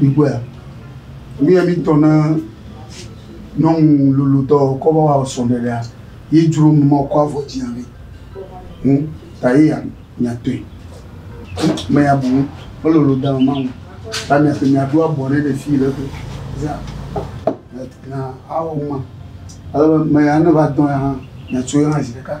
Mikpɔea? Nu ye mi tɔ na nyɔnu lolotɔ kɔ va wa srɔ̃ɖeɖe ɖea, ye dzro nu ma wòkɔ avɔ dzi hafi ŋu ta ye ya miatɔe. Ame ya bu nu melolo da mama ŋu ta miatɔe miaɖo abɔ nɛ le fii le egbɔ. Zã na awɔ numa. Ale be ame ya ne va dɔ̃ ya hã miatsoe hã zi ɖeka.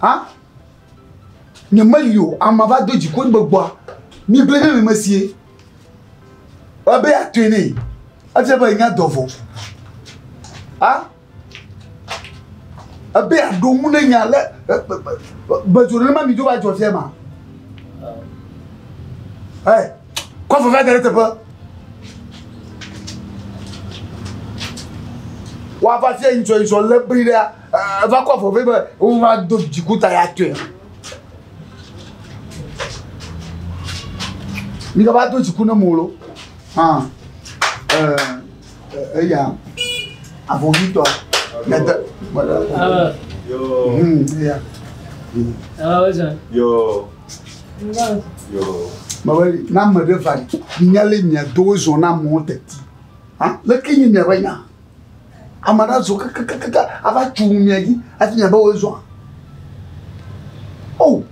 Ha? Ne meli o, ame va do dziku ŋgbe gbɔa, mi gblẽ ɖe mi me sie. Ebe ya tɔe ne, efia be nya dɔ vɔ. Ha? Ebe ya ɖo ŋu ne nya le, bedzo ne ma mi do va dzɔ fia ma. Hey, kɔ fɔ va gare teƒe. Wa va fia yin sɔ yin sɔ le bri ɖe. Eva kɔ afɔ vɛ be wova do dzikuta ya tɔe. Mi va do dziku ne mo lo. Hã. Eh, eya. Avovitɔ. Nete. Ah. Yo. Hmm, eya. Ah, oza. Yo. Yo. Mawe, na me ɖe va. Nyale mia do zona mo teti. Ah, leke nyi mia be nya? Ame aɖe azɔ kakakaka ava tso nu mia dzi hafi miabe woe zɔa. O! Oh.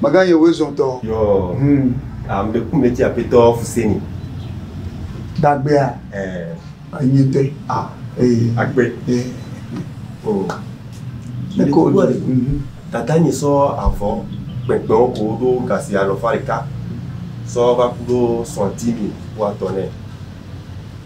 Mega yɛ woe zɔ tɔ. Yɔ. Hmm. Ame ɖe ku mɛ ti apetɔ Fuseni. Dagbea. Ɛɛ. Anyi te. A. Ee. Agbe. Ee. O. Ne ko do ale. Dada nye sɔ avɔ kpɛnkpɛnwo ko ɖo gasi alɔfa ɖeka sɔ va ku ɖo sɔntimi wa tɔ nɛ.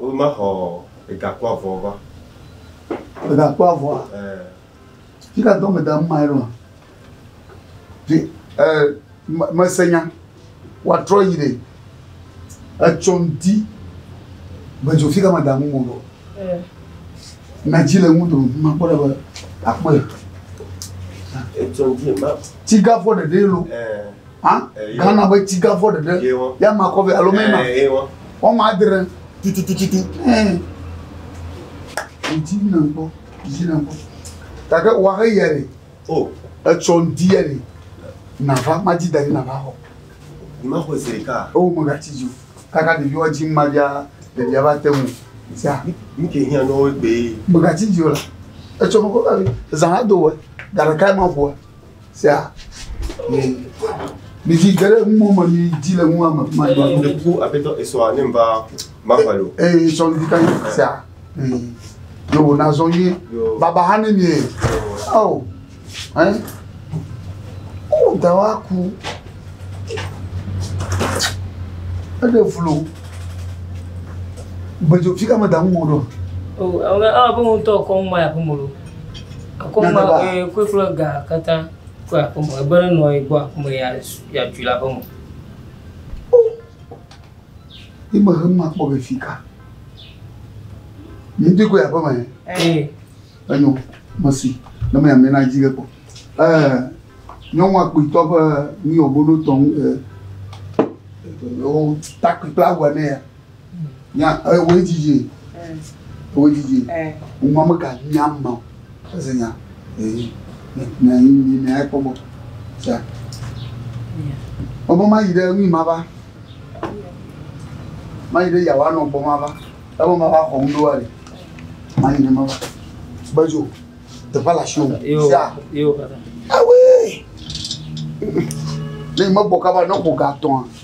Womexɔ egakpɔ avɔ va. Egakpɔ avɔa? Ɛɛ. Fi ka dɔ meda nu mae ɖoa? Fi ɛɛ mese nya. Woatrɔ yi ɖe etsɔ ŋdi be dzo fi ka meda nu mɔ ɖo. Ɛɛ. Na dzi le ŋu do makpɔ ɖa be akpɔe. Etsɔ ŋdi ma. Tigavɔ ɖeɖee lo. Ɛɛ. hã ghana be tsi gã fɔ ɖeɖe ya ma kɔ vɛ alo mɛ ma wɔn ma adre tututututu ɛɛ ŋuti na ŋkpɔ yi na ŋkpɔ gake wa he yia le o etsɔ ŋdi yia le nava ma dzi da yi nava xɔ. Ni ma xɔ ziri ka. Ewo me ga tsi dzi o kaka ɖevi wa dzi ma bia ɖevia va te ŋu tia. Mi ke hiã nɔ wo gbe. Me ga tsi dzi o la etsɔ nukɔ ka zan ado wɛ gaɖeka ma ƒoa. Sea, mi vi geɖe mɔ me mi di le ŋua me kuma dɔ. Ne ku aƒetɔ esɔa ne va mafa lo. Ee sɔ mi ka ye sea. Yo wo na zɔn ye. Baba ha ne mi ye. Awo. Hein? Ko da wa ku. Ede vlo. Bejo fika me da mu mo do. Oh, awo awo bo mo to ko mo ya ko mo lo. Akɔma ee kpekple ga katã tso aƒe me. Ebe nenɔ ye gbɔ aƒe me ya yatui le aƒe me. Ni me hem akpɔ be fi ka. Ni dui ko aƒe me. Ee. Enyo mesi ne me amena dzi ke kpɔ. Eh nyɔnua kpitɔ ƒe ni obono tɔn eh takpikpla wene ya. Nya ewoe didi ewoe didi ŋua mega nya ma o eze nya ee na yi yi na ekpɔ gbɔ tia ɔbɔ ma yi ɖe ŋui ma va ma yi ɖe yawa nɔ gbɔ ma va ebo ma va xɔ ŋu ɖoa le ma yi ɖe ma va gbedzo teƒe la si o tia ewoe ne yi me gbɔ kaba ne ko ga tɔa.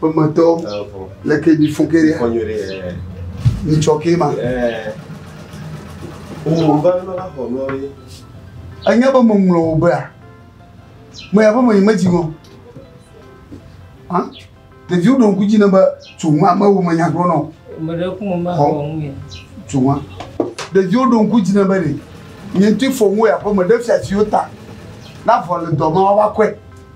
Ƒemetɔ le ke mi fɔ ke ɖe. Fɔ nyuie ɖe. Mi tsɔ ke ma. Wo va nɔ la xɔ nɔ ye. Anya be mo ŋlɔ wo bea. Mo ya be mo yi me dzi mo. Hã? Ɖevi wo ɖo ŋku dzi ne be tso ŋu ame wo me nya gblɔ nɔ. Me ɖe ku mo ma xɔ ŋu ye. Tso ŋu. Ɖevi wo ɖo ŋku dzi ne be ɖe. Nye ŋutɔ fɔ ŋu ya be me ɖe fia fi wo ta. Na vɔ le dɔ ma wa va kɔe.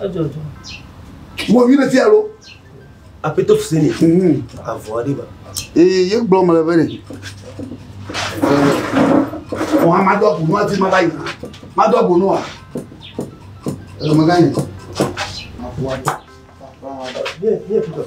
Edzɔdzɔ. Wò vi ɖe fia lo. Apɛtɔ Fuseni. Avɔ aɖe ba. Ee ye gblɔ mele be ne. Wò hã madɔ abu nua ti ma va yi. Madɔ abu nua. Ele me gã yi. Avɔ aɖe. Ye ye Peter.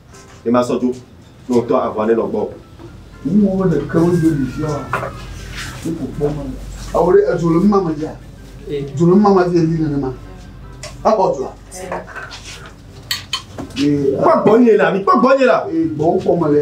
ne masɔ dzo ne wòtɔ aʋa nenɔ gbɔ o. Wu wo le kewo dzi ɖi fia wa ne ko kpɔ ma. Awo ɖe edzo le mma me dzia? Dzo le mma me dzia yi nenema. Abɔ dzoa. Kpɔ gbɔ nye la, mi kpɔ gbɔ nye la. Gbɔ kpɔ me le.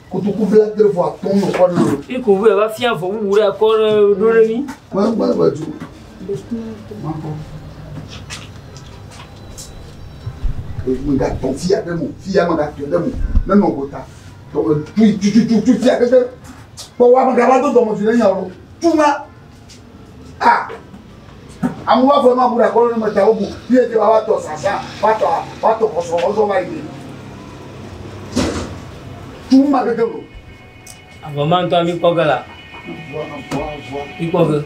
kotoku bla adre vɔ atɔ nɔ kɔ nɔ. Iko vɔ va fia vɔ wuwu ɖe akɔ ɖe ɖo ɖe mi. Gba gba gba ju. Makɔ. Emi ga tɔ fia ɖe mo fia ma ga tɔ ɖe mo ne nɔ gota. Tɔ tu tu tu tu tu fia ɖe ɖe. Kpɔ wa ma ga va do dɔmɔ fi ɖe nya o. Tu ma. Ah! Amewo va fɔ ma bu ɖe akɔlɔ ne me ta wobu. Fi ete va va tɔ sasa, va tɔ va tɔ kɔsɔ kɔsɔ va yi. Tu ma keke lo. Avɔ ma ŋutɔ mi kpɔ ge la. Avɔ avɔ avɔ. Mi kpɔ ge.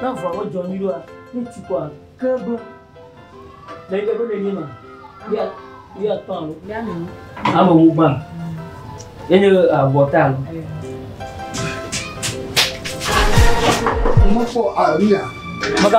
Ne avɔa medzɔ nyui ɖoa, ne tu kɔa, ke ɖo. Le yi ɖe nenye ma, ya ya tɔ alo. Ya ne. Ame wo gba. Enye abɔta alo. Mo fo aria. Maka.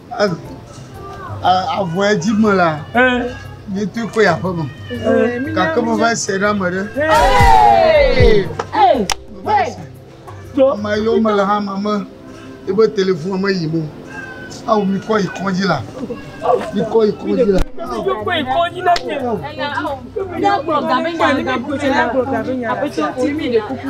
Avɔ ya dzi me la, mi tu kpe aƒe me. Gake me va se ɖe ame ɖe. Ame yiwo me le hã ma me, ebe telefon me yi mo. Awu mi kɔ yi kɔdzi la. Mi kɔ yi kɔdzi la. Apetewo ti mi ɖe kuku.